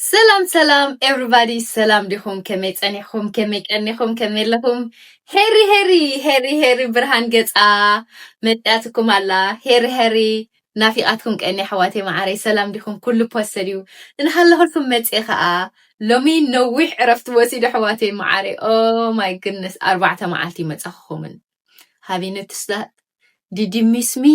ሰላም ሰላም ኤቭሪባዲ ሰላም ዲኹም ከመይ ጸኒሕኹም ከመይ ቀኒኹም ከመይ ኣለኹም ሄሪ ሄሪ ሄሪ ሄሪ ብርሃን ገጻ መጽያትኩም ኣላ ሄሪ ሄሪ ናፊቓትኩም ቀኒ ኣሕዋተይ መዓረይ ሰላም ዲኹም ኩሉ ፖሰድ እዩ እንሃለኹልኩም መጽየ ከኣ ሎሚ ነዊሕ ዕረፍቲ ወሲዱ ኣሕዋተይ መዓረይ ኦ ማይ ግድነስ ኣርባዕተ መዓልቲ ይመጸኹኹምን ሃቪ ኖቲስ ዳት ዲድ ዩ ሚስ ሚ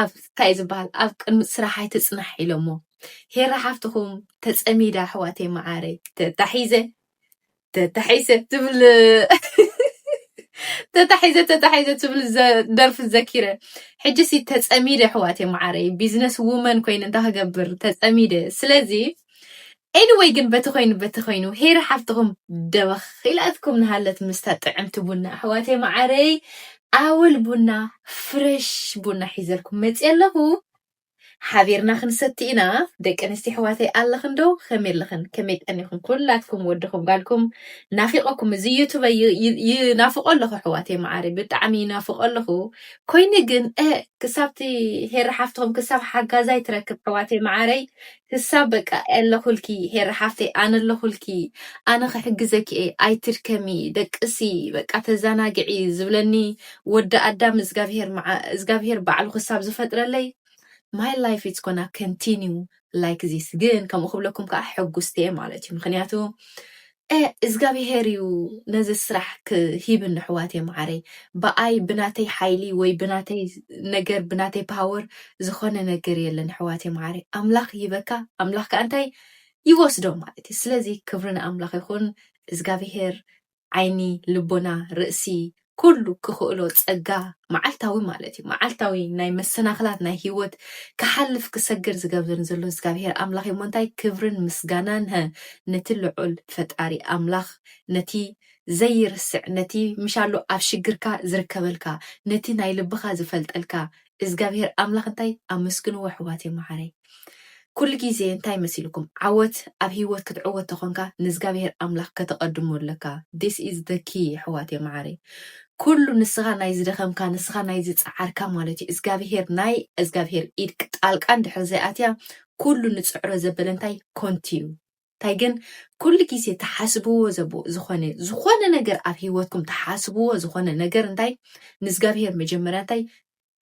ኣብ እንታይ እዩ ዝበሃል ኣብ ቅድሚ ስራሕ ኣይትፅናሕ ኢሎሞ ሄራ ሓፍትኩም ተፀሚዳ ኣሕዋተይ መዓረይ ተታሒዘ ተታሒዘ ትብል ተታሒዘ ተታሒዘ ትብል ደርፊ ዘኪረ ሕጂሲ ተፀሚደ ኣሕዋተይ መዓረይ ቢዝነስ ውመን ኮይነ እንታይ ክገብር ተፀሚደ ስለዚ Anyway ግን በቲ ኮይኑ በቲ ኮይኑ ሄሪ ሓፍትኹም ደበኽ ኢላትኩም ንሃለት ምስታ ጥዕምቲ ቡና ኣሕዋተይ መዓረይ ኣወል ቡና ፍረሽ ቡና ሒዘልኩም መጽየ ኣለኹ ሓቢርና ክንሰቲ ኢና ደቂ ኣንስትዮ ኣሕዋተይ ኣለኽን ዶ ከመይ ኣለኽን ከመይ ቀኒኹም ኩላትኩም ወድኹም ጓልኩም ናፊቐኩም እዚ ዩቱበ ይናፍቆ ኣለኹ ኣሕዋተይ መዓረይ ብጣዕሚ ይናፍቆ ኣለኹ ኮይኑ ግን እ ክሳብቲ ሄሪ ሓፍትኹም ክሳብ ሓጋዛይ ትረክብ ኣሕዋተይ መዓረይ ክሳብ በቃ ኣለኹልኪ ሄሪ ሓፍተይ ኣነ ኣለኹልኪ ኣነ ክሕግዘኪ እየ ኣይትድከሚ ደቅሲ በቃ ተዛናግዒ ዝብለኒ ወዲ ኣዳም እዝጋብሄር ባዕሉ ክሳብ ዝፈጥረለይ ማይ ላይፍ ኢትስ ጎና ከንቲኒው ላይክ ዚስ ግን ከምኡ ክብለኩም ከዓ ሕጉስቲ እየ ማለት እዩ ምክንያቱ ኤእ እዝጋቢሄር እዩ ነዚ ስራሕ ክሂብኒ ኣሕዋትየ ማዓረይ ብኣይ ብናተይ ሓይሊ ወይ ብናተይ ነገር ብናተይ ፓወር ዝኮነ ነገር የለን ኣሕዋትየ ማዓረይ ኣምላክ ይሂበካ ኣምላክ ካኣ እንታይ ይወስዶ ማለት እዩ ስለዚ ክብሪ ንኣምላክ ይኩን እዝጋቢሄር ዓይኒ ልቦና ርእሲ ኩሉ ክኽእሎ ጸጋ መዓልታዊ ማለት እዩ መዓልታዊ ናይ መሰናኽላት ናይ ህይወት ክሓልፍ ክሰግር ዝገብርን ዘሎ እዝጋብሄር ኣምላኽ እዩሞ እንታይ ክብርን ምስጋናን ሀ ነቲ ልዑል ፈጣሪ ኣምላኽ ነቲ ዘይርስዕ ነቲ ምሻሉ ኣብ ሽግርካ ዝርከበልካ ነቲ ናይ ልብኻ ዝፈልጠልካ እዝጋብሄር ኣምላኽ እንታይ ኣመስግንዎ ኣሕዋተይ መዓረይ ኩሉ ግዜ እንታይ መሲልኩም ዓወት ኣብ ሂወት ክትዕወት ተኾንካ ንእዝጋብሄር ኣምላኽ ከተቀድሞ ኣለካ this is the key ኣሕዋተይ መዓረይ ኩሉ ንስኻ ናይ ዝደኸምካ ንስኻ ናይ ዝጸዓርካ ማለት እዩ እዝጋብሄር ናይ እዝጋብሄር ኢድ ጣልቃ እንድሕር ዘይኣትያ ኩሉ ንጽዕሮ ዘበለ እንታይ ኮንቲ እዩ እንታይ ግን ኩሉ ግዜ ትሓስብዎ ዘቦ ዝኾነ ዝኾነ ነገር ኣብ ሂወትኩም ትሓስብዎ ዝኾነ ነገር እንታይ ንእግዚኣብሄር መጀመርያ እንታይ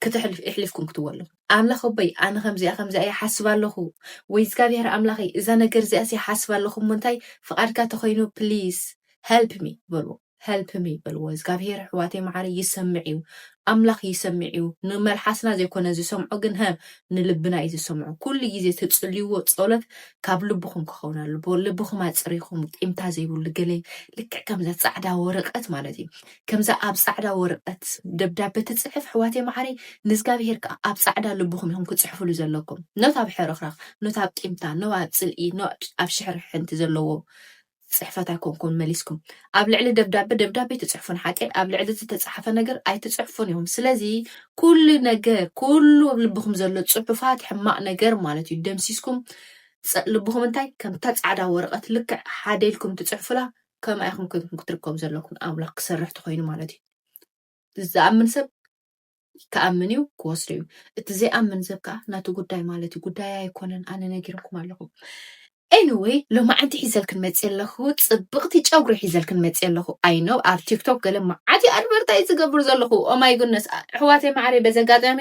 ክትሕልፍ እሕልፍኩም ክትዎ ኣለኹ ኣምላኽ ኣቦይ ኣነ ከምዚኣ ከምዚኣ ይሓስብ ኣለኹ ወይ እግዚኣብሔር ኣምላኸይ እዛ ነገር እዚኣስ ይሓስብ ኣለኹ እሞ እንታይ ፍቓድካ ተኮይኑ ፕሊስ ሄልፕ ሚ በልዎ help me በልዎ እዝጋብሄር ኣሕዋተይ ማዓረይ ይሰምዕ እዩ ኣምላክ ይሰምዕ እዩ ንመልሓስና ዘይኮነ ዝሰምዖ ግን ሀ ንልብና እዩ ዝሰምዖ ኩሉ ግዜ ትፅልይዎ ፀሎት ካብ ልብኩም ክኸውን ኣለዎ ልብኩም ኣፅሪኩም ቂምታ ዘይብሉ ገለ ልክዕ ከምዛ ፃዕዳ ወረቀት ማለት እዩ ከምዛ ኣብ ፃዕዳ ወረቀት ደብዳቤ ትፅሕፍ ኣሕዋተይ ማዓረይ ንእዝጋብሄር ከዓ ኣብ ፃዕዳ ልብኩም ኢኹም ክፅሕፍሉ ዘለኩም ኖት ኣብ ሕርኽራኽ ኖት ኣብ ቂምታ ኖ ኣብ ፅልኢ ኖ ኣብ ሽሕርሕንቲ ዘለዎ ጽሕፈት ኣይኮንኩን መሊስኩም ኣብ ልዕሊ ደብዳበ ደብዳቤ ትጽሕፉን ሓቀይ ኣብ ልዕሊ ዝተጻሓፈ ነገር ኣይትጽሕፉን ኢኹም ስለዚ ኩሉ ነገር ኩሉ ኣብ ልብኹም ዘሎ ጽሑፋት ሕማቅ ነገር ማለት እዩ ደምሲስኩም ልብኹም እንታይ ከምታ ጻዕዳ ወረቀት ልክዕ ሓደ ኢልኩም ትጽሕፉላ ከምኣ ኢኹም ኮይንኩም ክትርከቡ ዘለኩም ኣምላኽ ክሰርሕ ተኮይኑ ማለት እዩ ዝኣምን ሰብ ክኣምን እዩ ክወስዶ እዩ እቲ ዘይኣምን ሰብ ከዓ ናቱ ጉዳይ ማለት እዩ ጉዳይ ኣይኮነን ኣነ ነጊርኩም ኣለኹ ኤኒወይ ሎማዓንቲ ሒዘልክን መፅ ኣለኹ ፅብቕቲ ጨጉሪ ሒዘልክን መፅ ኣለኹ ኣይኖ ኣብ ቲክቶክ ገለ መዓት ኣድቨርታይ ዝገብር ዘለኹ ኦማይ ጉነስ ኣሕዋተይ ማዕረይ በዚ ኣጋጣሚ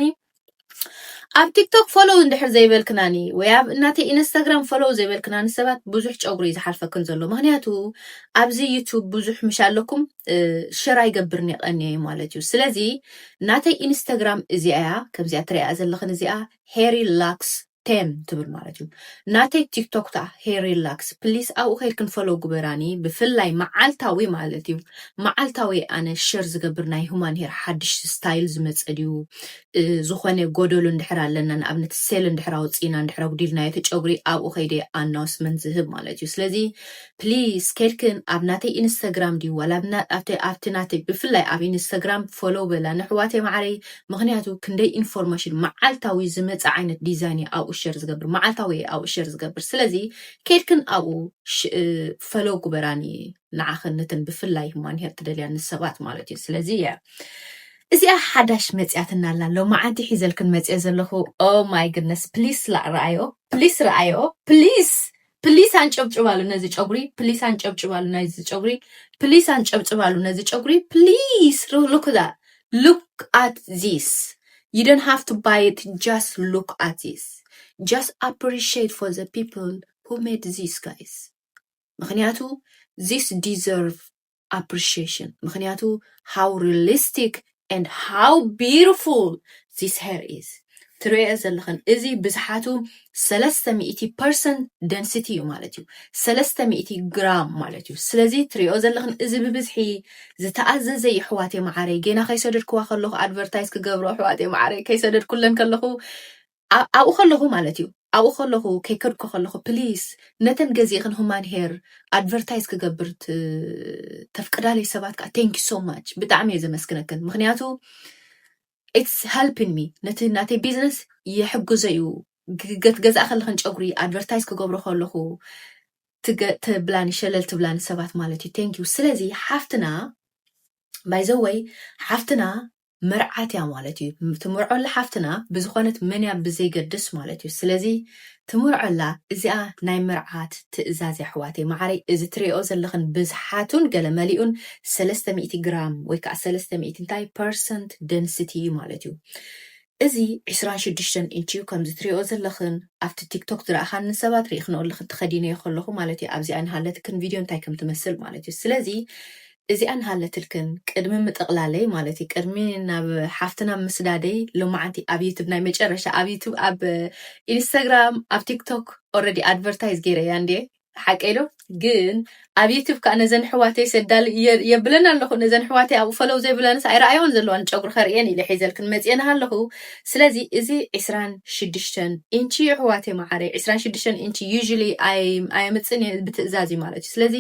ኣብ ቲክቶክ ፎሎው እንድሕር ዘይበልክናኒ ወይ ኣብ እናተይ ኢንስታግራም ፎሎው ዘይበልክናኒ ሰባት ብዙሕ ጨጉሪ እዩ ዝሓልፈክን ዘሎ ምክንያቱ ኣብዚ ዩቱብ ብዙሕ ምሽ ኣለኩም ሸር ኣይገብርን ይቀንየ እዩ ማለት እዩ ስለዚ ናተይ ኢንስታግራም እዚኣ እያ ከምዚኣ ትሪኣ ዘለኽን እዚኣ ሄሪ ላክስ ቴም ትብል ማለት እዩ ናተይ ቲክቶክ ታ ሄሪላክስ ፕሊስ ኣብኡ ከይድክን ፈሎ ጉበራኒ ብፍላይ መዓልታዊ ማለት እዩ መዓልታዊ ኣነ ሸር ዝገብር ናይ ሁማን ሄር ሓድሽ ስታይል ዝመፀ ድዩ እ፣ ዝኾነ ጎደሎ እንድሕር ኣለና ንኣብነት ሴል እንድሕር ኣውፂእና እንድሕር ኣጉዲልናዮ እቲ ጨጉሪ ኣብኡ ከይደ ኣናውስመንት ዝህብ ማለት እዩ ስለዚ ፕሊስ ከድክን ኣብ ናተይ ኢንስተግራም ድዩ ዋላ ኣብቲ ኣብቲ ናተይ ብፍላይ ኣብ ኢንስተግራም ፎሎው በላኒ ኣሕዋተይ ማዓረይ ምክንያቱ ክንደይ ኢንፎርመሽን ማዓልታዊ ዝመጽእ ዓይነት ዲዛይን እየ ኣብኡ ሸር ዝገብር ማዓልታዊ እየ ኣብኡ ሸር ዝገብር ስለዚ ከድክን ኣብኡ ፈሎው ግበራኒ ንዓክን ነተን ብፍላይ ማንሄር ትደልያኒ ሰባት ማለት እዩ ስለዚ እየ እዚኣ ሓዳሽ መጽያትና ኣላ ሎማዓንቲ ሒዘልክን መጽየ ዘለኹ ኦ ማይ ግድነስ ፕሊስ ላእ ረኣዮ ፕሊስ ረኣዮ ፕሊስ ፕሊስ ኣንጨብጭባሉ ነዚ ጨጉሪ ፕሊስ ኣንጨብጭባሉ ናይዚ ጨጉሪ ፕሊስ ኣንጨብጭባሉ ነዚ ጨጉሪ ፕሊስ ሉክ ዛት ሉክ ኣት ዚስ ዩ ዶን ሃቭ ቱ ባይ ኢት ጃስት ሉክ ኣት ዚስ ጃስት ኣፕሪሺየት ፎር ዘ ፒፕል ሁ ሜድ ዚስ ጋይስ ምክንያቱ ዚስ ዲዘርቭ ኣፕሪሽሽን ምክንያቱ ሃው ሪሊስቲክ and ሃው ቢዩቲፉል ዚስ ሄር ኢዝ ትሪኦኦ ዘለኽን እዚ ብዝሓቱ ሰለስተ ሚእቲ ፐርሰንት ደንሲቲ እዩ ማለት እዩ ሰለስተ ሚእቲ ግራም ማለት እዩ ስለዚ ትሪኦኦ ዘለኽን እዚ ብብዝሒ ዝተኣዘዘ ይሕዋቴ መዓረይ ጌና ከይሰደድክዋ ከለኹ ኣድቨርታይዝ ክገብሮ ኣሕዋቴ መዓረይ ከይሰደድኩለን ከለኹ ኣ- ኣብኡ ከለኹ ማለት እዩ ኣብኡ ከለኹ ከይከድኩ ከለኹ ፕሊስ ነተን ገዚእኽን ሁማን ሄር ኣድቨርታይዝ ክገብር ት- ተፍቅዳለይ ሰባት ከዓ ቴንኪ ሶ ማች ብጣዕሚ እየ ዘመስግነክን ምክንያቱ ኢትስ ሄልፒን ሚ ነቲ ናተይ ቢዝነስ ይሕግዞ እዩ ግ- ገት ገዛእ ከለኽን ጨጉሪ ኣድቨርታይዝ ክገብሮ ከለኹ ትገ- ትብላኒ ሸለል ትብላኒ ሰባት ማለት እዩ ቴንኪዩ ስለዚ ሓፍትና ባይዘወይ ሓፍትና መርዓት እያ ማለት እዩ ትምርዖላ ሓፍትና ብዝኾነት መን እያ ብዘይገድስ ማለት እዩ ስለዚ ትምርዖላ እዚኣ ናይ መርዓት ትእዛዝ እያ ኣሕዋተይ ማዓረይ እዚ ትሪኦኦ ዘለኽን ብዝሓቱን ገለ መሊኡን ሰለስተ ሚእቲ ግራም ወይ ካዓ ሰለስተ ሚእቲ እንታይ ፐርሰንት ደንስቲ እዩ ማለት እዩ እዚ ዕስራን ሽዱሽተን ኢንች እዩ ከምዚ ትሪኦኦ ዘለኽን ኣብቲ ቲክቶክ ዝረኣኻኒ ሰባት ሪኢኽንኦ ኣለኽን ተኸዲነዮ ከለኹ ማለት እዩ ኣብዚኣ ንሃለትክን ቪድዮ እንታይ ከም ትመስል ማለት እዩ ስለዚ እዚኣ እንሃለትልክን ቅድሚ ምጥቕላለይ ማለት እዩ ቅድሚ ናብ ሓፍትና ምስዳደይ ሎማዓንቲ ኣብ ዩቱብ ናይ መጨረሻ ኣብ ዩቱብ ኣብ ኢንስታግራም ኣብ ቲክቶክ ኦረዲ ኣድቨርታይዝ ገይረያ እንዴ ሓቀይ ዶ ግን ኣብ ዩቱብ ከዓ ነዘን ሕዋተይ ሰዳል የብለን ኣለኹ ነዘን ሕዋተይ ኣብኡ ፈለው ዘይብለንስ ኣይረኣየዋን ዘለዋን ጨጉሪ ከርእየን ኢለ ሒዘልክን መፅኤን ኣለኹ ስለዚ እዚ ዕስራን ሽዱሽተን ኢንቺ እዩ ሕዋተይ መዓረይ ዕስራን ሽዱሽተን ኢንቺ ዩዥሊ ኣየምፅን እየ ብትእዛዝ እዩ ማለት እዩ ስለዚ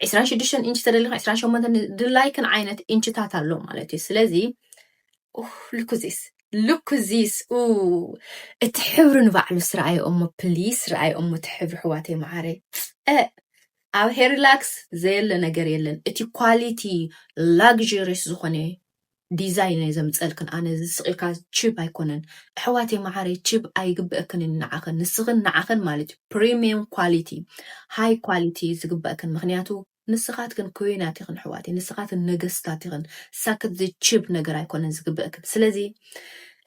ዕስራን ሽዱሽተን ኢንች ተደሊኻ ዕስራን ሸሞንተን ድላይክን ዓይነት ኢንችታት ኣሎ ማለት እዩ ስለዚ ልኩዚስ ልኩዚስ እቲ ሕብሪ ንባዕሉ ስረኣዮ እሞ ፕሊስ ረኣዮ እሞ እቲ ሕብሪ ሕዋተይ መዓረ ኣብ ሄሪላክስ ዘየለ ነገር የለን እቲ ኳሊቲ ላግሪስ ዝኾነ ዲዛይን እየ ዘምፀእልክን ኣነ እዚ ስቅ ኢልካ ችብ ኣይኮነን እሕዋተይ ማዓረይ ችብ ኣይግበእክንን ናዓክን ንስክን ናዓክን ማለት እዩ ፕሪሚየም ኳሊቲ ሃይ ኳሊቲ እዩ ዝግበእክን ምክንያቱ ንስካትክን ኩዊናት ኢክን እሕዋተይ ንስካትን ነገስታት ኢክን ሳክት ዝችብ ነገር ኣይኮነን ዝግበእክን ስለዚ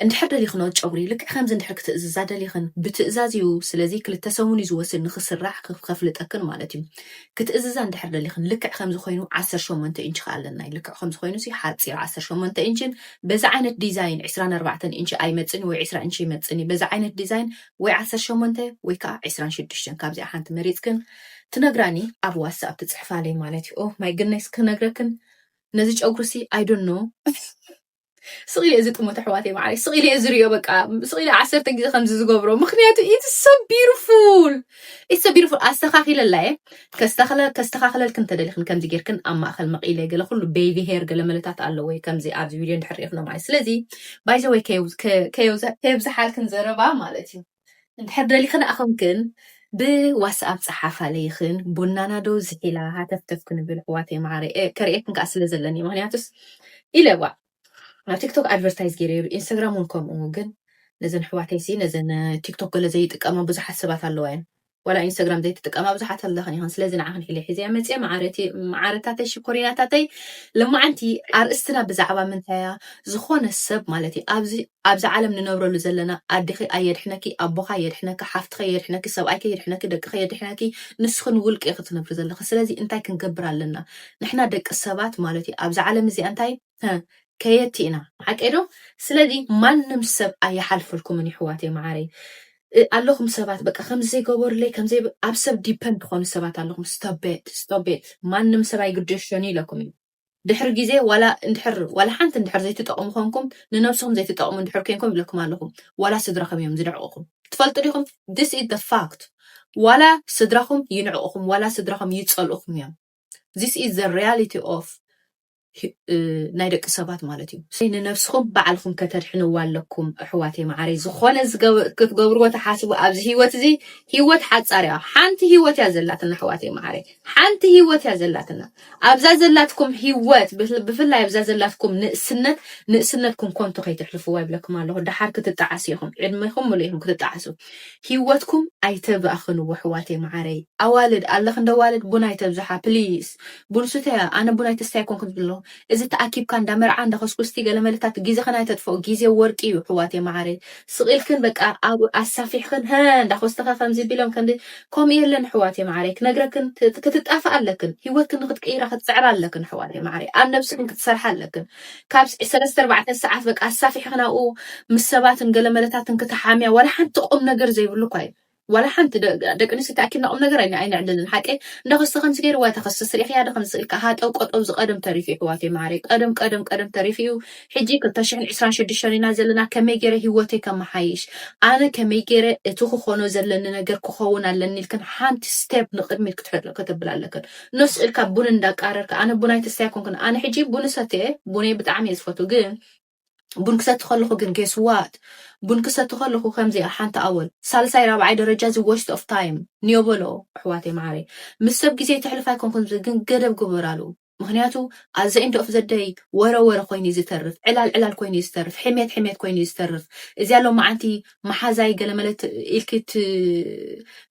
እንድሕር ደሊኽኖ ጨጉሪ ልክዕ ከምዚ እንድሕር ክትእዝዛ ደሊኽን ብትእዛዝ እዩ ስለዚ ክልተ ሰሙን እዩ ዝወስድ ንኽስራሕ ከፍልጠክን ማለት እዩ ክትእዝዛ እንድሕር ደሊኽን ልክዕ ከምዚ ኮይኑ ዓሰርተ ሸሞንተ ኢንቺ ከኣ ኣለናይ ልክዕ ከምዚ ኮይኑ ሲ ሓጺር ዓሰርተ ሸሞንተ ኢንቺን በዚ ዓይነት ዲዛይን ዕስራን ኣርባዕተን ኢንቺ ኣይመጽን እዩ ወይ ዕስራ ኢንቺ ይመጽን እዩ በዚ ዓይነት ዲዛይን ወይ ዓሰርተ ሸሞንተ ወይ ከኣ ዕስራን ሽዱሽተን ካብዚኣ ሓንቲ መሪጽክን ትነግራኒ ኣብ ዋትስኣፕ ትጽሕፋለይ ማለት እዩ ኦ ማይ ግነስ ክነግረክን ነዚ ጨጉሪ ሲ ኣይ ዶንት ኖ ስቕ ኢለ እዚ ጥሞት ኣሕዋተይ ማዕረይ ስቕ ኢለ ዝርዮ በቃ ስቕ ኢለ ዓሰርተ ግዜ ከምዚ ዝገብሮ ምክንያቱ ኢትስ ሶ ቢዩቲፉል ኢትስ ሶ ቢዩቲፉል ኣስተኻኺለላ እየ ከስተኻኽለልክን እንተደሊኽን ከምዚ ጌርክን ኣብ ማእኸል መቒለ ገለ ኩሉ ቤቢ ሄር ገለ መለታት ኣለዎ እዩ ከምዚ ኣብዚ ቪድዮ እንድሕር ሪኢኽኖ ማለት ስለዚ ባይዘወይ ከየብዝሓልክን ዘረባ ማለት እዩ እንድሕር ደሊኽን ኣኾንክን ብዋስኣብ ጸሓፋለይኽን ቡናና ዶ ዝሒላ ሃተፍተፍ ክንብል ኣሕዋተይ መዓረይ እ ከርእየክን ከኣ ስለ ዘለኒ ምክንያቱስ ኢለ ዋእ ኣብ ቲክቶክ ኣድቨርታይዝ ገይረይሉ ኢንስታግራም እውን ከምኡ ግን ነዘን ኣሕዋተይሲ ነዘን ቲክቶክ ገለ ዘይጥቀማ ብዙሓት ሰባት ኣለዋ እየን ዋላ ኢንስታግራም ዘይትጥቀማ ብዙሓት ኣለኽን ኢኽን ስለዚ ንዓኽን ሒለ ሒዘያ መፅየ መዓረቲ መዓረታተይ ሽኮሪናታተይ ልማዓንቲ ኣርእስትና ብዛዕባ ምንታይ እያ ዝኾነ ሰብ ማለት እዩ ኣብዚ ኣብዚ ዓለም ንነብረሉ ዘለና ኣዴኺ ኣየድሕነኪ ኣቦኻ የድሕነኪ ሓፍትኸ የድሕነኪ ሰብኣይከ የድሕነኪ ደቅኸ የድሕነኪ ንስኺ ንውልቂ ኢኺ ትነብሪ ዘለኺ ስለዚ እንታይ ክንገብር ኣለና ንሕና ደቂ ሰባት ማለት እዩ ኣብዚ ዓለም እዚኣ እንታይ ከየቲ ኢና ሓቀይ ዶ ስለዚ ማንም ሰብ ኣይሓልፈልኩምን ይሕዋተይ መዓረይ ኣለኹም ሰባት በቃ ከምዚ ዘይገበሩለይ ከምዚ ኣብ ሰብ ዲፐንድ ትኾኑ ሰባት ኣለኹም ስቶቤት ስቶቤት ማንም ሰብ ኣይግደሾን እዩ ኢለኩም እዩ ድሕሪ ግዜ ዋላ እንድሕር ዋላ ሓንቲ እንድሕር ዘይትጠቕሙ ኮንኩም ንነብስኹም ዘይትጠቕሙ እንድሕር ኮንኩም ይብለኩም ኣለኹም ዋላ ስድራኹም እዮም ዝድዕቕኹም ትፈልጡ ዲኹም ዲስ ኢዝ ደ ፋክት ዋላ ስድራኹም ይንዕቕኹም ዋላ ስድራኹም ይጸልእኹም እዮም ዚስ ኢዝ ዘ ሪያሊቲ ኦፍ ናይ ደቂ ሰባት ማለት እዩ ስለዚ ንነብስኹም ባዕልኹም ከተድሕንዋ ኣለኩም ኣሕዋተይ መዓረይ ዝኾነ ክትገብርዎ ተሓስቡ ኣብዚ ሂወት እዚ ሂወት ሓጻር እያ ሓንቲ ሂወት እያ ዘላትና ኣሕዋተይ መዓረይ ሓንቲ ሂወት እያ ዘላትና ኣብዛ ዘላትኩም ሂወት ብፍላይ ኣብዛ ዘላትኩም ንእስነት ንእስነትኩም ኮንቶ ከይተሕልፍዋ ይብለኩም ኣለኹ ደሓር ክትጣዓሱ ኢኹም ዕድሜኹም ምሉእ ኢኹም ክትጣዓሱ ሂወትኩም ኣይተባእኽኑ ኣሕዋተይ ማዓረይ ኣዋልድ ኣለኽ እንዳ ኣዋልድ ቡን ኣይተብዝሓ ፕሊስ ቡን ስተያ ኣነ ቡን ኣይትስታይ ኣይኮንኩን ዝብሎ እዚ ተኣኪብካ እንዳ መርዓ እንዳ ከስኩስቲ ገለመለታት ጊዘኽን ኣይተጥፍኦ ጊዜ ወርቂ እዩ ኣሕዋተይ ማዓረይ ስቅ ኢልክን በቃ ኣብ ኣሳፊሕኽን ሀ እንዳ ኮስተኸ ከምዚ ቢሎም ከምዚ ከምኡ የለን ኣሕዋተይ ማዓረይ ክነግረክን ክትጣፋኣ ኣለክን ሂወትክን ንክትቅይራ ክትጽዕራ ኣለክን ኣሕዋተይ ማዓረይ ኣብ ነብስኽን ክትሰርሓ ኣለክን ካብ ሰለስተ ኣርባዕተ ሰዓት በቃ ኣሳፊሕኺ ናብኡ ምስ ሰባትን ገለ መለታትን ክትሓምያ ዋላ ሓንቲ ቁም ነገር ዘይብሉ እኳ እዩ ዋላ ሓንቲ ደቂ ኣንስትዮ ተኣኪብና ቁም ነገር ኣይነዕልልን ሓቂ እንዳ ክስተ ከምዚ ገይሩ ዋይ ተኸስስ ሪኢኽያ ዶ ከምዚ ኢልካ ሃጠው ቀጠው እዚ ቀደም ተሪፉ እዩ ሕዋተይ ማዓረይ ቀደም ቀደም ቀደም ተሪፉ እዩ ሕጂ ክልተ ሽሕን ዕስራን ሽዱሽተን ኢና ዘለና ከመይ ገይረ ሂወተይ ከመሓይሽ ኣነ ከመይ ገይረ እቲ ክኾኖ ዘለኒ ነገር ክኸውን ኣለኒ ኢልክን ሓንቲ ስቴፕ ንቅድሚት ክትብል ኣለክን ኖስ እልካ ቡን እንዳቃረርካ ኣነ ቡን ኣይትስታይ ኣይኮንኩን ኣነ ሕጂ ቡን እሰትየ ቡነይ ብጣዕሚ እየ ዝፈቱ ግን ቡን ክሰቲ ከለኹ ግን ጌስዋት ቡን ክሰቲ ከለኹ ከምዚኣ ሓንቲ ኣወል ሳልሳይ ራብዓይ ደረጃ እዚ ወስት ኦፍ ታይም ንዮ በሎ ኣሕዋተይ መዓረይ ምስ ሰብ ግዜ ተሕልፍ ኣይኮንኩን እዚ ግን ገደብ ግበራሉ ምክንያቱ ኣዘ ኢንድ ኦፍ ዘደይ ወረ ወረ ኮይኑ እዩ ዝተርፍ ዕላል ዕላል ኮይኑ እዩ ዝተርፍ ሕሜት ሕሜት ኮይኑ እዩ ዝተርፍ እዚኣ ሎማዓንቲ መሓዛይ ገለመለ ኢልኪ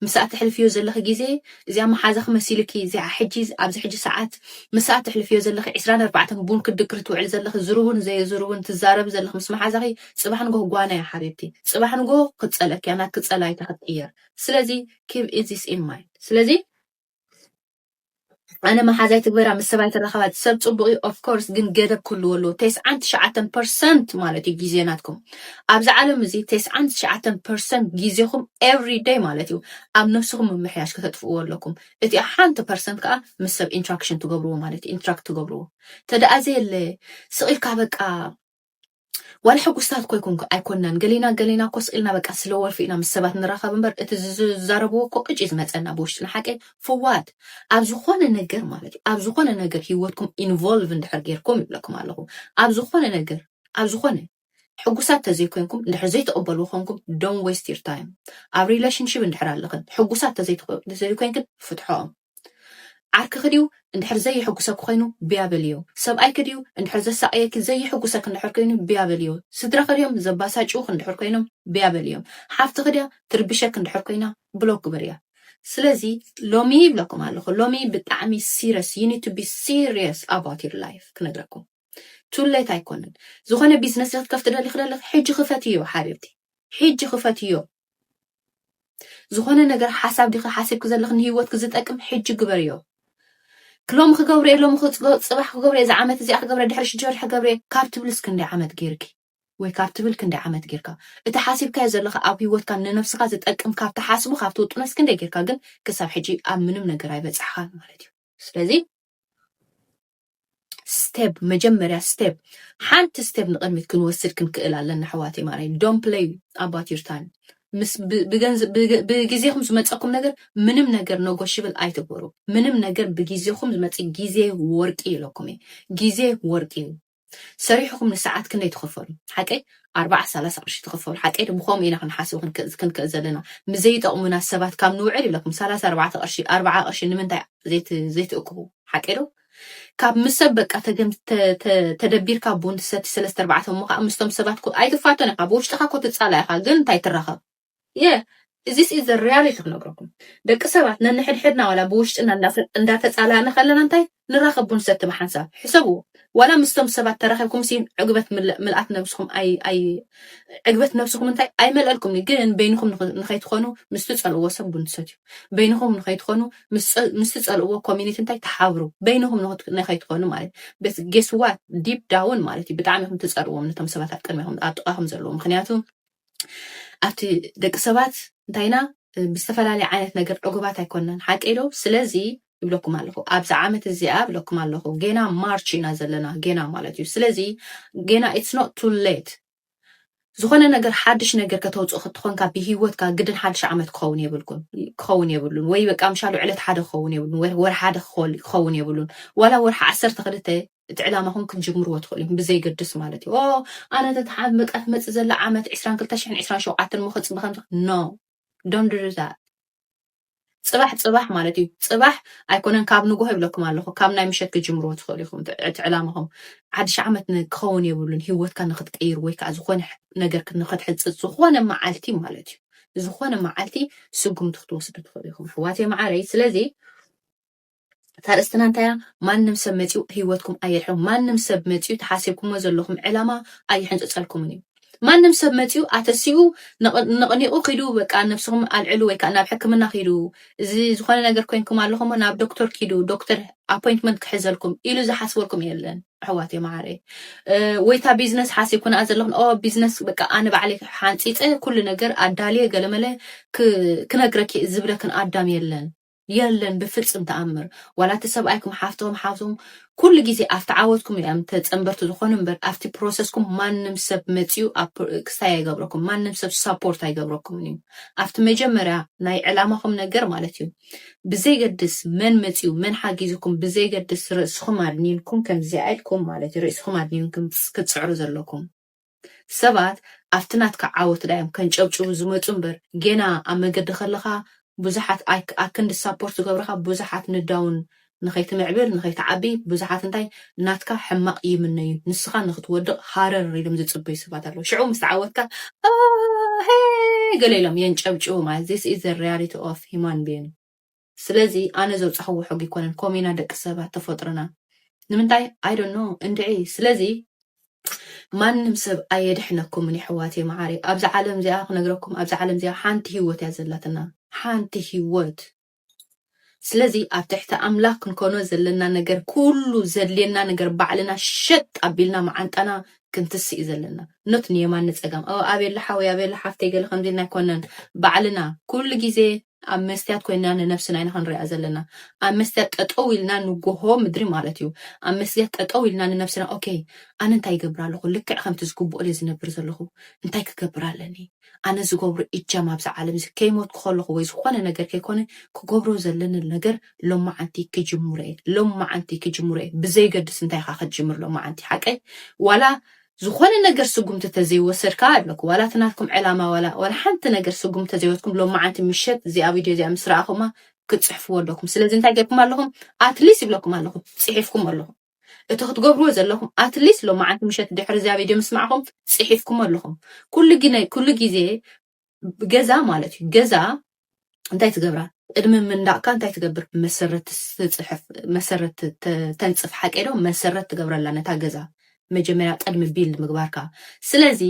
ምስኣ ተሕልፍዮ ዘለኺ ግዜ እዚኣ መሓዛኺ መሲልኪ እዚኣ ሕጂ ኣብዚ ሕጂ ሰዓት ምስኣ ተሕልፍዮ ዘለኺ ዕስራን ኣርባዕተን ቡን ክትድቅሪ ትውዕል ዘለኺ ዝርቡን ዘየዝርቡን ትዛረቢ ዘለኺ ምስ መሓዛኺ ጽባሕ ንጎህ ጓና እያ ሓቢብቲ ጽባሕ ንጎህ ክትጸለኪያ ናትኪ ጸላይታ ክትቅየር ስለዚ ኪብ ኢዚስ ኢን ማይንድ ስለዚ ኣነ መሓዛይ ትግበራ ምስ ሰባይ ትራኸባ ሰብ ጽቡቅ እዩ ኦፍ ኮርስ ግን ገደብ ክህልዎ ኣለዎ ተስዓን ትሽዓተን ፐርሰንት ማለት እዩ ግዜ ናትኩም ኣብዚ ዓለም እዚ ተስዓን ትሽዓተን ፐርሰንት ግዜኹም ኤቭሪ ደይ ማለት እዩ ኣብ ነብስኹም ምምሕያሽ ከተጥፍእዎ ኣለኩም እቲ ሓንቲ ፐርሰንት ከዓ ምስ ሰብ ኢንትራክሽን ትገብርዎ ማለት እዩ ኢንትራክት ትገብርዎ ተደኣ ዘየለ ስቅ ኢልካ በቃ ዋላ ሕጉስታት ኮ ይኮንኩ ኣይኮናን ገሌና ገሌና እኮ ስቂልና በቃ ስለ ወልፊ ኢና ምስ ሰባት ንራኸብ እምበር እቲ ዝዛረብዎ እኮ ቅጭ ዝመፀና ብውሽጥና ሓቀይ ፍዋት ኣብ ዝኾነ ነገር ማለት እዩ ኣብ ዝኾነ ነገር ሂወትኩም ኢንቮልቭ እንድሕር ጌርኩም ይብለኩም ኣለኹ ኣብ ዝኾነ ነገር ኣብ ዝኾነ ሕጉሳት ተዘይኮይንኩም እንድሕር ዘይተቐበልዎ ኮንኩም ዶን ዌስት ዩር ታይም ኣብ ሪሌሽንሽፕ እንድሕር ኣለኽን ሕጉሳት ተዘይኮይንክን ፍትሖም ዓርክኺ ድዩ እንድሕር ዘየሕጉሰኪ ኮይኑ ብያ በልዮ። ሰብኣይኪ ድዩ እንድሕር ዘሳቕየኪ ዘየሕጉሰኪ እንድሕር ኮይኑ ብያ በልዮ። ስድራኺ ድዮም ዘባሳጭዉኺ እንድሕር ኮይኖም ብያ በልዮም። ሓፍትኺ ድያ ትርብሸኪ እንድሕር ኮይና ብሎክ ግበርያ። ስለዚ ሎሚ ይብለኩም ኣለኹ ሎሚ ብጣዕሚ ሲረስ you need to be serious about your life ክነግረኩም Too late ኣይኮነን ዝኾነ ቢዝነስ ዶ ክትከፍቲ ደሊኺ ደለኺ ሕጂ ክፈትዮ ሓቢብቲ ሕጂ ክፈትዮ ዝኾነ ነገር ሓሳብ ዲኺ ሓሲብኪ ዘለኺ ንሂወትኪ ዝጠቅም ሕጂ ግበርዮ ክሎም ክገብረ እየ ሎም ፅባሕ ክገብረ እየ ዝዓመት እዚኣ ክገብረ ድሕሪ ሽዱሽተ ወርሒ ክገብረ እየ ካብ ትብልስ ክንደይ ዓመት ገይርኪ ወይ ካብ ትብል ክንደይ ዓመት ጌርካ እቲ ሓሲብካዮ ዘለካ ኣብ ሂወትካ ንነብስካ ዝጠቅም ካብ ትሓስቡ ካብ ትውጥኖስ ክንደይ ጌርካ ግን ክሳብ ሕጂ ኣብ ምንም ነገር ኣይበፃሕካን ማለት እዩ ስለዚ ስተብ መጀመርያ ስተብ ሓንቲ ስተብ ንቕድሚት ክንወስድ ክንክእል ኣለና ኣሕዋተይ ማርያም ዶን ፕለይ ኣባት ዩር ታይም ምስ ብግዜኹም ዝመፀኩም ነገር ምንም ነገር ነጎሽብል ኣይትግበሩ ምንም ነገር ብግዜኹም ዝመፅእ ግዜ ወርቂ ኢለኩም እዩ ግዜ ወርቂ እዩ ሰሪሕኹም ንሰዓት ክንደይ ትኸፈሉ ሓቀይ ኣርባዓ ሰላሳ ቅርሺ ትኸፈሉ ሓቀይ ዶ ብከምኡ ኢና ክንሓስብ ክንክእል ዘለና ምዘይጠቕሙና ሰባት ካብ ንውዕል ኢለኩም ሰላሳ ኣርባዕተ ቅርሺ ኣርባዓ ቅርሺ ንምንታይ ዘይትእክቡ ሓቀይ ዶ ካብ ምስ ሰብ በቃ ተገም ተ- ተ- ተደቢርካ ቡን ትሰቲ ሰለስተ ኣርባዕተ እሞ ከዓ ምስቶም ሰባት ኮ- ኣይትፋቶን ኢኻ ብውሽጥኻ ኮ ትጻላ ኢኻ ግን እንታይ ትራኸብ የ እዚስ ኢዝ ዘ ሪያሊቲ ክነግረኩም ደቂ ሰባት ነንሕድሕድና ዋላ ብውሽጥና እንዳፈ- እንዳተጻላእና ከለና እንታይ ንራኸብ ቡን ሰቲ ብሓንሳብ ሕሰብዎ ዋላ ምስቶም ሰባት ተራኺብኩም ሲ ዕግበት ምል- ምልኣት ነብስኹም ኣይ ኣይ ዕግበት ነብስኹም እንታይ ኣይመልአልኩም ግን በይንኹም ንኸ- ንኸይትኾኑ ምስ ትጸልእዎ ሰብ ቡን ትሰትዩ በይንኹም ንኸይትኾኑ ምስ ትጸልእዎ ኮሚኒቲ እንታይ ተሓብሩ በይንኹም ንኸይትኾኑ ማለት በስ ጌስዋት ዲፕ ዳውን ማለት እዩ ብጣዕሚ ኹም ትጸልዎም ነቶም ሰባት ኣብ ቅድሚኹም ኣብ ጥቓኹም ዘለዎ ምክንያቱ ኣብቲ ደቂ ሰባት እንታይና ብዝተፈላለየ ዓይነት ነገር ዕጉባት ኣይኮናን ሓቂ ዶ ስለዚ ይብለኩም ኣለኹ ኣብዚ ዓመት እዚኣ ብለኩም ኣለኹ ጌና ማርች ኢና ዘለና ጌና ማለት እዩ ስለዚ ጌና ኢትስ ኖት ቱ ሌት ዝኾነ ነገር ሓድሽ ነገር ከተውጽእ ክትኾንካ ብሂወትካ ግድን ሓድሽ ዓመት ክኸውን የብልኩን ክኸውን የብሉን ወይ በቃ ምሻሉ ዕለት ሓደ ክኸውን የብሉን ወይ ወርሒ ሓደ ክኸውን የብሉን ዋላ ወርሒ ዓሰርተ ክልተ እቲ ዕላማኹም ክንጅምርዎ ትኽእሉ ብዘይገድስ ማለት እዩ ኣነ ተትሓ በቃ ትመጽእ ዘላ ዓመት 22 ሽሕን 27 ሞ ከጽቢ ከምዚ ኖ ዶንት ዱ ዛት ጽባሕ ጽባሕ ማለት እዩ ጽባሕ ኣይኮነን ካብ ንጎሆ ይብለኩም ኣለኹ ካብ ናይ ምሸት ክጅምርዎ ትኽእሉ ኢኹም እቲ ዕላማኹም ሓድሽ ዓመት ክኸውን የብሉን ሂወትካ ንክትቀይር ወይ ከዓ ዝኾነ ነገር ንክትሕፅፅ ዝኾነ መዓልቲ ማለት እዩ ዝኾነ መዓልቲ ስጉምቲ ክትወስዱ ትኽእሉ ኢኹም ኣሕዋተይ መዓረይ ስለዚ እታ ርእስትና እንታይ እያ? ማንም ሰብ መጺኡ ህይወትኩም ኣየድሕኖ። ማንም ሰብ መጺኡ እቲ ሓሲብኩሞ ዘለኹም ዕላማ ኣይሕንጽጸልኩምን እዩ። ማንም ሰብ መጺኡ ኣተሲኡ ነቕኒቑ ኪዱ በቃ ነብስኹም ኣልዕሉ ወይ ከዓ ናብ ሕክምና ኪዱ እዚ ዝኾነ ነገር ኮይንኩም ኣለኹም እሞ ናብ ዶክተር ኪዱ ዶክተር ኣፖይንትመንት ክሕዘልኩም ኢሉ ዝሓስበልኩም የለን ኣሕዋት የመዓረይ ወይታ ቢዝነስ ሓሲብኩና ዘለኹን ኦ ቢዝነስ በቃ ኣነ ባዕለይ ሓንፂፀ ኩሉ ነገር ኣዳልየ ገለመለ ክነግረኪ ዝብለክን ኣዳም የለን የለን ብፍጽም ተኣምር ዋላ እቲ ሰብኣይኩም ሓፍቶም ሓውቶም ኩሉ ግዜ ኣብቲ ዓወትኩም እዮም ተጸንበርቲ ዝኾኑ እምበር ኣብቲ ፕሮሰስኩም ማንም ሰብ መጺኡ ክስታይ ኣይገብረኩም ማንም ሰብ ሳፖርት ኣይገብረኩምን እዩ ኣብቲ መጀመርያ ናይ ዕላማኹም ነገር ማለት እዩ ብዘይገድስ መን መጺኡ መን ሓጊዝኩም ብዘይገድስ ርእስኹም ኣድኒንኩም ከምዚኣ ኢልኩም ማለት እዩ ርእስኹም ኣድኒንኩም ክትጽዕሩ ዘለኩም ሰባት ኣብቲ ናትካ ዓወት ዳዮም ከንጨብጭቡ ዝመጹ እምበር ጌና ኣብ መገዲ ከለኻ ብዙሓት ኣክንዲ ሳፖርት ዝገብርኻ ብዙሓት ንዳውን ንኸይትምዕብል ንኸይትዓቢ ብዙሓት እንታይ ናትካ ሕማቕ ይምነዩ ንስኻ ንኽትወድቕ ሃረር ኢሎም ዝጽበዩ ሰባት ኣለዉ ሽዑ ምስ ተዓወትካ ኣሄ ገለ ኢሎም የንጨብጭቡ ማለት this is the reality of human being ስለዚ ኣነ ዘውጻኽዎ ሕጊ ኣይኮነን ኮም ኢና ደቂ ሰባት ተፈጥሮና ንምንታይ ኣይ ዶንት ኖ እንድዒ ስለዚ ማንም ሰብ ኣየድሕነኩምን የሕዋተይ መዓረይ ኣብዚ ዓለም እዚኣ ክነግረኩም ኣብዚ ዓለም እዚኣ ሓንቲ ሂወት እያ ዘላትና ሓንቲ ሂወት ስለዚ ኣብ ትሕቲ ኣምላኽ ክንኮኖ ዘለና ነገር ኩሉ ዘድልየና ነገር ባዕልና ሸጥ ኣቢልና መዓንጣና ክንትስእ እዩ ዘለና ኖት ንየማን ንፀጋም ኣበየላ ሓወይ ኣበየላ ሓፍተይ ገለ ከምዚ ኢልና ኣይኮነን ባዕልና ኩሉ ግዜ ኣብ መስትያት ኮይንና ንነብስና ኢና ክንሪኣ ዘለና ኣብ መስትያት ጠጠው ኢልና ንጎሆ ምድሪ ማለት እዩ ኣብ መስትያት ጠጠው ኢልና ንነብስና ኦኬ ኣነ እንታይ ይገብር ኣለኹ ልክዕ ከምቲ ዝግብኦ ድየ ዝነብር ዘለኹ እንታይ ክገብር ኣለኒ ኣነ ዝገብሮ እጃም ኣብዚ ዓለም እዚ ከይሞትኩ ከለኹ ወይ ዝኾነ ነገር ከይኮነ ክገብሮ ዘለኒ ነገር ሎማዓንቲ ክጅምሮ እየ ሎማዓንቲ ክጅምሮ እየ ብዘይገድስ እንታይ ኢኻ ክትጅምር ሎማዓንቲ ሓቀይ ዋላ ዝኾነ ነገር ስጉምቲ ተዘይወሰድ ከኣ ኣለኩ ዋላ እቲ ናትኩም ዕላማ ዋላ ዋላ ሓንቲ ነገር ስጉምቲ ተዘይወትኩም ሎማዓንቲ ምሸት እዚኣ ቪድዮ እዚኣ ምስ ረኣኹማ ክትጽሕፍዎ ኣለኩም ስለዚ እንታይ ጌርኩም ኣለኹም ኣትሊስ ይብለኩም ኣለኹ ጽሒፍኩም ኣለኹ እቲ ክትገብርዎ ዘለኹም ኣትሊስ ሎማዓንቲ ምሸት ድሕሪ እዚኣ ቪድዮ ምስማዕኹም ጽሒፍኩም ኣለኹም ኩሉ ግዜ ኩሉ ግዜ ገዛ ማለት እዩ ገዛ እንታይ ትገብራ ቅድሚ ምንዳቕካ እንታይ ትገብር መሰረት ትፅሕፍ መሰረት ተንፅፍ ሓቄዶ መሰረት ትገብረላ ነታ ገዛ መጀመርያ ቅድሚ ቢል ምግባርካ ስለዚ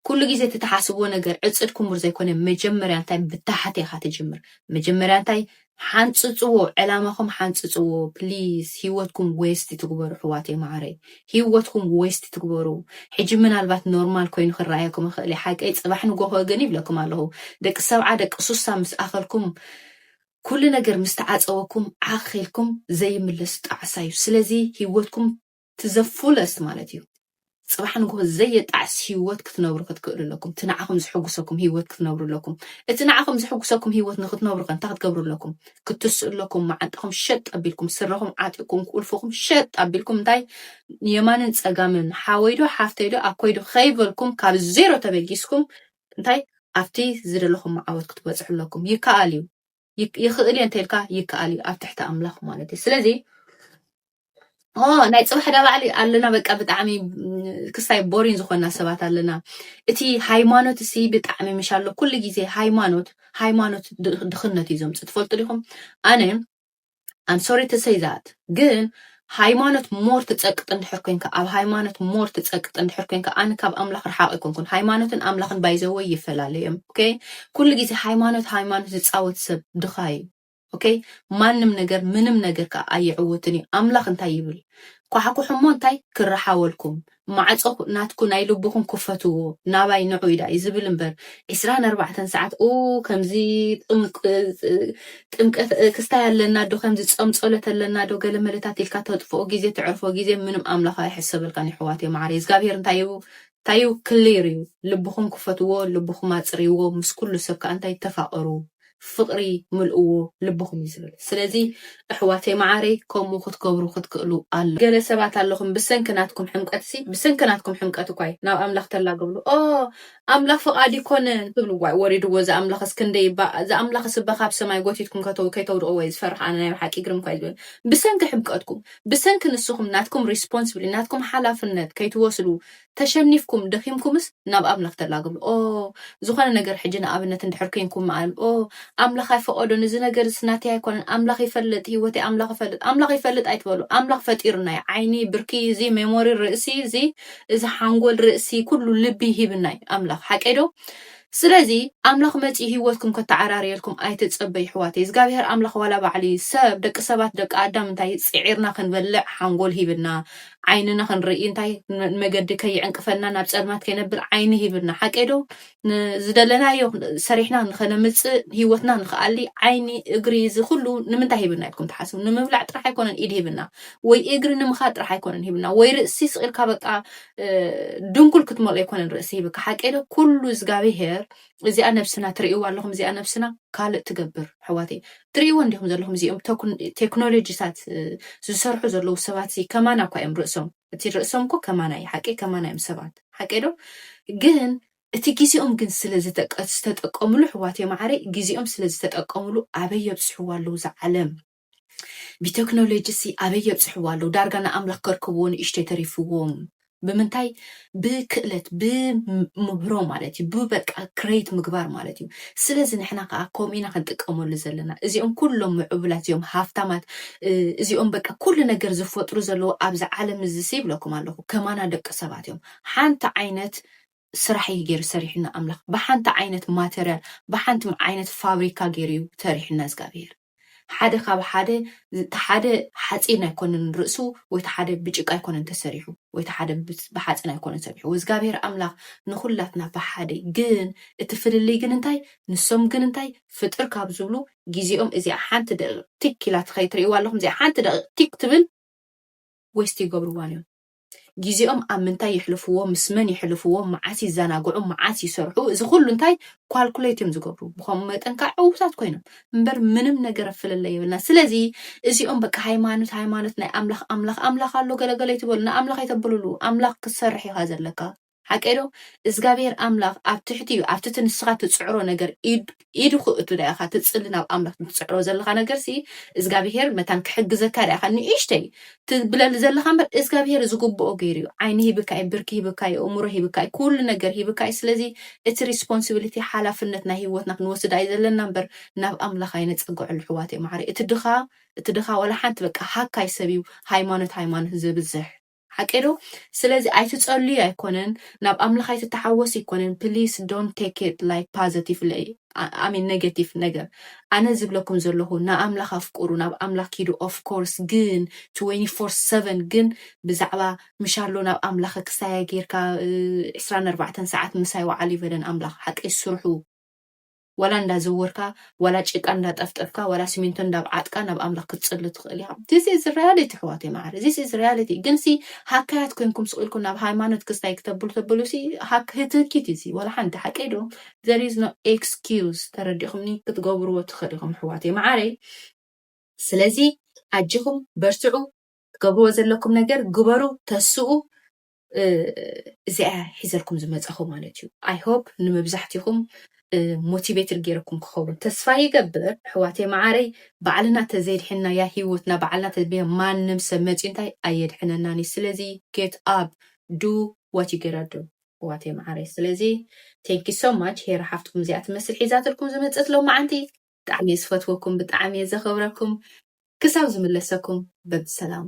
ኩሉ ግዜ እትትሓስብዎ ነገር ዕፅድ ኩምር ዘይኮነ መጀመርያ እንታይ ብታሕት ኢኻ ትጅምር መጀመርያ እንታይ ሓንፅፅዎ ዕላማኹም ሓንፅፅዎ please ሂወትኩም waste ትግበሩ ኣሕዋተይ ማዓረይ ሂወትኩም waste ትግበሩ ሕጂ ምናልባት ኖርማል ኮይኑ ክረኣየኩም ይኽእል እዩ ሓቀይ ፅባሕ ንጎሆ ግን ይብለኩም ኣለኹ ደቂ ሰብዓ ደቂ ሱሳ ምስ ኣኸልኩም ኩሉ ነገር ምስ ተዓፀወኩም ዓኽ ኢልኩም ዘይምለስ ጣዕሳ እዩ ስለዚ ሂወትኩም to the fullest ማለት እዩ ጽባሕ ንግሆ ዘየጣዕስ ህይወት ክትነብሩ ክትክእሉ ኣለኩም እቲ ንዓኹም ዝሕጉሰኩም ህይወት ክትነብሩ ኣለኩም እቲ ንዓኹም ዝሕጉሰኩም ህይወት ንክትነብሩ ከ እንታይ ክትገብሩ ኣለኩም ክትስኡ ኣለኩም መዓንጣኹም ሸጥ ኣቢልኩም ስረኹም ዓጢኩም ቁልፍኹም ሸጥ ኣቢልኩም እንታይ የማንን ጸጋምን ሓወይዶ ሓፍተይዶ ኣኮይዶ ከይበልኩም ካብ ዜሮ ተበጊስኩም እንታይ ኣብቲ ዝደለኹም መዓወት ክትበጽሑ ኣለኩም ይከኣል እዩ ይኽእል እየ እንተልካ ይከኣል እዩ ኣብ ትሕቲ ኣምላኽ ማለት እዩ ስለዚ ናይ ፅባሕ ዳ ባዕሊ ኣለና በቃ ብጣዕሚ ክስታይ ቦሪን ዝኾና ሰባት ኣለና እቲ ሃይማኖት እሲ ብጣዕሚ ምሽ ኣሎ ኩሉ ግዜ ሃይማኖት ሃይማኖት ድኽነት እዩ ዘምፅ ትፈልጡ ዲኹም ኣነ ኣም ሶሪ ቱ ሰይ ዛት ግን ሃይማኖት ሞር ትጸቅጥ እንድሕር ኮንካ ኣብ ሃይማኖት ሞር ትጸቅጥ እንድሕር ኮንካ ኣነ ካብ ኣምላኽ ርሓቕ ኣይኮንኩን ሃይማኖትን ኣምላኽን ባይዘወይ ይፈላለዮም ኦኬ ኩሉ ግዜ ሃይማኖት ሃይማኖት ዝጻወት ሰብ ድኻ እዩ ኦኬ ማንም ነገር ምንም ነገር ከዓ ኣይዕወትን እዩ ኣምላኽ እንታይ ይብል ኳሕኩሕ እሞ እንታይ ክረሓወልኩም ማዕጾ ናትኩ ናይ ልብኹም ክፈትዎ ናባይ ንዑ ኢላ እዩ ዝብል እምበር ዕስራን ኣርባዕተን ሰዓት ኡኡ ከምዚ ጥምቀት ክስታይ ኣለና ዶ ከምዚ ጾም ጸሎት ኣለና ዶ ገለመለታት ኢልካ ተጥፍኦ ግዜ ተዕርፎ ግዜ ምንም ኣምላኽ ኣይሕሰበልካን ይሕዋተይ ማዓረይ እዝጋብሄር እንታይ እዩ እንታይ እዩ ክሊር እዩ ልብኹም ክፈትዎ ልብኹም ኣጽርይዎ ምስ ኩሉ ሰብ ከኣ እንታይ ተፋቀሩ ፍቅሪ ምልእዎ ልብኹም እዩ ዝብል ስለዚ ኣሕዋተይ መዓረይ ከምኡ ክትገብሩ ክትክእሉ ኣለኩም ገለ ሰባት ኣለኹም ብሰንኪ ናትኩም ሕምቀት ሲ ብሰንኪ ናትኩም ሕምቀት እኳይ ናብ ኣምላኽ ተላገብሉ ኦህ ኣምላኽ ፍቃድ ይኮነ ትብሉ ዋይ ወሪድዎ ዝኣምላኽስ ክንደይ እባ ዝኣምላኽስ እባ ካብ ሰማይ ጎቲትኩም ከተው ከይተውድቅዎ እየ ዝፈርሕ ኣነ ናይ ብሓቂ ግርም እኳይ ዝብል ብሰንኪ ሕምቀትኩም ብሰንኪ ንስኹም ናትኩም ሪስፖንስብሊ ናትኩም ሓላፍነት ከይትወስዱ ተሸኒፍኩም ደኺምኩምስ ናብ ኣምላኽ ተላግብሉ ኦህ ዝኾነ ነገር ሕጂ ንኣብነት እንድሕር ኴንኩም ምኣል ኦህ ኣምላኽ ኣይፈቐዶን እዚ ነገርስ ናተይ ኣይኮነን ኣምላኽ ይፈልጥ ህይወተይ ኣምላኽ ይፈልጥ ኣምላኽ ይፈልጥ ኣይትበሉ ኣምላኽ ፈጢሩና እዩ ዓይኒ ብርኪ እዚ ሜሞሪ ርእሲ እዚ እዚ ሓንጎል ርእሲ ኩሉ ልቢ ሂብና እዩ ኣምላኽ ሓቀይዶ ስለዚ ኣምላኽ መጺኡ ሂወትኩም ከተዓራርየልኩም ኣይትጸበዩ ይሕዋተይ እዝጋብሄር ኣምላኽ ዋላ ባዕሊ ሰብ ደቂ ሰባት ደቂ ኣዳም እንታይ ጺዒርና ክንበልዕ ሓንጎል ሂብና ዓይንና ክንርኢ እንታይ ንመገዲ ከይዕንቅፈና ናብ ጸልማት ከይነብል ዓይኒ ሂብና ሓቀይ ዶ ንዝደለናዮ ሰሪሕና ንኸነምጽእ ሂወትና ንኸኣሊ ዓይኒ እግሪ እዚ ኩሉ ንምንታይ ሂብና ኢልኩም ትሓስቡ ንምብላዕ ጥራሕ ኣይኮነን ኢድ ሂብና ወይ እግሪ ንምኻድ ጥራሕ ኣይኮነን ሂብና ወይ ርእሲ ስቂልካ በቃ ድንኩል ክትመልኦ ኣይኮነን ርእሲ ሂብካ ሓቀይ ዶ ኩሉ እዝጋብሄር እዚኣ ነብስና ትርእይዋ ኣለኹም እዚኣ ነብስና ካልእ ትገብር ሕዋተይ ትርእይዎ እንዲኹም ዘለኹም እዚኦም ቴክኖሎጂታት ዝሰርሑ ዘለዉ ሰባት እዚ ከማና እኳ እዮም ርእሶም እቲ ርእሶም እኮ ከማና እዩ ሓቀይ ከማና እዮም ሰባት ሓቀይ ዶ ግን እቲ ግዜኦም ግን ስለ ዝተጠቀምሉ ሕዋተይ ማዓረይ ግዜኦም ስለ ዝተጠቀምሉ ኣበይ የብፅሕዋ ኣለዉ ዝዓለም ብተክኖሎጂሲ ኣበይ የብጽሕዋ ኣለዉ ዳርጋ ንኣምላኽ ከርክብዎ ንእሽተይ ተሪፍዎም ብምንታይ ብክእለት ብምህሮ ማለት እዩ ብበቃ ክሬት ምግባር ማለት እዩ ስለዚ ንሕና ከዓ ከምኡ ኢና ክንጥቀመሉ ዘለና እዚኦም ኩሎም ምዕቡላት እዮም ሃፍታማት እዚኦም በቃ ኩሉ ነገር ዝፈጥሩ ዘለዉ ኣብዚ ዓለም እዚ ይብለኩም ኣለኹ ከማና ደቂ ሰባት እዮም ሓንቲ ዓይነት ስራሕ እዩ ገይሩ ሰሪሑና ኣምላኽ ብሓንቲ ዓይነት ማተርያል ብሓንቲ ዓይነት ፋብሪካ ገይሩ እዩ ሰሪሑና እዝጋብሄር ሓደ ካብ ሓደ ሓደ ሓፂን ኣይኮነን ርእሱ ወይ ሓደ ብጭቃ ኣይኮነን ተሰሪሑ ወይ ሓደ ብሓፂን ኣይኮነን ሰሪሑ ወዝጋብሄር ኣምላኽ ንኹላትና ብሓደ ግን እቲ ፍልልይ ግን እንታይ ንሶም ግን እንታይ ፍጥር ካብ ዝብሉ ግዜኦም እዚኣ ሓንቲ ደቂቕ ቲክ ኢላ ትኸይድ ትርእይዋ ኣለኹም እዚኣ ሓንቲ ደቂቕ ቲክ ትብል ወይስቲ ይገብርዋን እዮም ጊዜኦም ኣብ ምንታይ የሕልፍዎ ምስ መን የሕልፍዎ መዓስ ይዛናግዑ መዓስ ይሰርሑ እዚ ኩሉ እንታይ ኳልኩሌት እዮም ዝገብሩ ብከምኡ መጠን ከዓ ዕውታት ኮይኖም እምበር ምንም ነገር ፍልለይ የብልና ስለዚ እዚኦም በቃ ሃይማኖት ሃይማኖት ናይ ኣምላኽ ኣምላኽ ኣምላኽ ኣሎ ገለገለ ይትበሉ ንኣምላኽ የተብልሉ ኣምላኽ ክትሰርሕ ኢኻ ዘለካ ሓቀይ ዶ እዝጋብሄር ኣምላኽ ኣብ ትሕቲ እዩ ኣብቲ እቲ ንስኻ ትጽዕሮ ነገር ኢድ ኢዱ ክእቱ ዳኣ ኢኻ ትጽሊ ናብ ኣምላኽ ትጽዕሮ ዘለኻ ነገርሲ እዝጋብሄር መታን ክሕግዘካ ዳኣ ኢኻ ንእሽተይ ትብለሉ ዘለኻ እምበር እዝጋብሄር ዝግብኦ ገይሩ እዩ ዓይኒ ሂብካ እዩ ብርኪ ሂብካ እዩ እምሮ ሂብካ እዩ ኩሉ ነገር ሂብካ እዩ ስለዚ እቲ ሪስፖንሲቢሊቲ ሓላፍነት ናይ ህይወትና ክንወስድ ኣዩ ዘለና እምበር ናብ ኣምላኽ ኣይነጸግዐሉ ኣሕዋተይ ማዓረይ እቲ ድኻ እቲ ድኻ ዋላ ሓንቲ በቃ ሃካይ ሰብ እዩ ሃይማኖት ሃይማኖት ዘብዝሕ ሓቀይ ዶ ስለዚ ኣይትጸልዩ ኣይኮነን ናብ ኣምላኽ ኣይትታሓወስ ኣይኮነን ፕሊስ ዶንት ቴክ ኢት ላይክ ፓዘቲፍ ለይ ኣሜን ነገቲፍ ነገር ኣነ ዝብለኩም ዘለኹ ንኣምላኽ ኣፍቁሩ ናብ ኣምላኽ ኪዱ ኦፍ ኮርስ ግን ትወኒ ፎር ሰቨን ግን ብዛዕባ ምሻሎ ናብ ኣምላኽ ክሳያ ጌርካ ዕስራን ኣርባዕተን ሰዓት ምሳይ ወዓል ይበለን ኣምላኽ ሓቀይ ስርሑ ዋላ እንዳዘወርካ ዋላ ጭቃ እንዳጠፍጠፍካ ዋላ ስሚንቶ እንዳብዓጥካ ናብ ኣምላኽ ክትጽሊ ትኽእል ኢኻ this is reality ኣሕዋተይ መዓረ this is reality ግን ሲ ሃካያት ኮንኩም ስቕ ኢልኩም ናብ ሃይማኖት ክስታይ ክተብሉ ተብሉ ሲ ሃክ ህትህኪት እዩ ሲ ዋላ ሓንቲ ሓቀይ ዶ there is no excuse ተረዲኹምኒ ክትገብርዎ ትኽእል ኢኹም ኣሕዋተይ መዓረይ ስለዚ ኣጅኹም በርትዑ ትገብርዎ ዘለኩም ነገር ግበሩ ተስኡ እዚኣ እያ ሒዘልኩም ዝመጻኹ ማለት እዩ ኣይ ሆፕ ንመብዛሕቲኹም ሞቲቬትድ ገይረኩም ክኸውን ተስፋ ይገብር ኣሕዋተይ መዓረይ ባዕልና ተዘይድሕናያ ሂወትና ባዕልና ተዝብያ ማንም ሰብ መፅዩ እንታይ ኣየድሕነናን እዩ ስለዚ ጌት ኣብ ዱ ዋት ዩ ጌት ዱ ኣሕዋተይ መዓረይ ስለዚ ቴንኪ ሶ ማች ሄራ ሓፍትኩም እዚኣ ትመስል ሒዛትልኩም ዝመፀት ሎመዓንቲ ብጣዕሚ እየ ዝፈትወኩም ብጣዕሚ እየ ዘኽብረኩም ክሳብ ዝምለሰኩም በብሰላም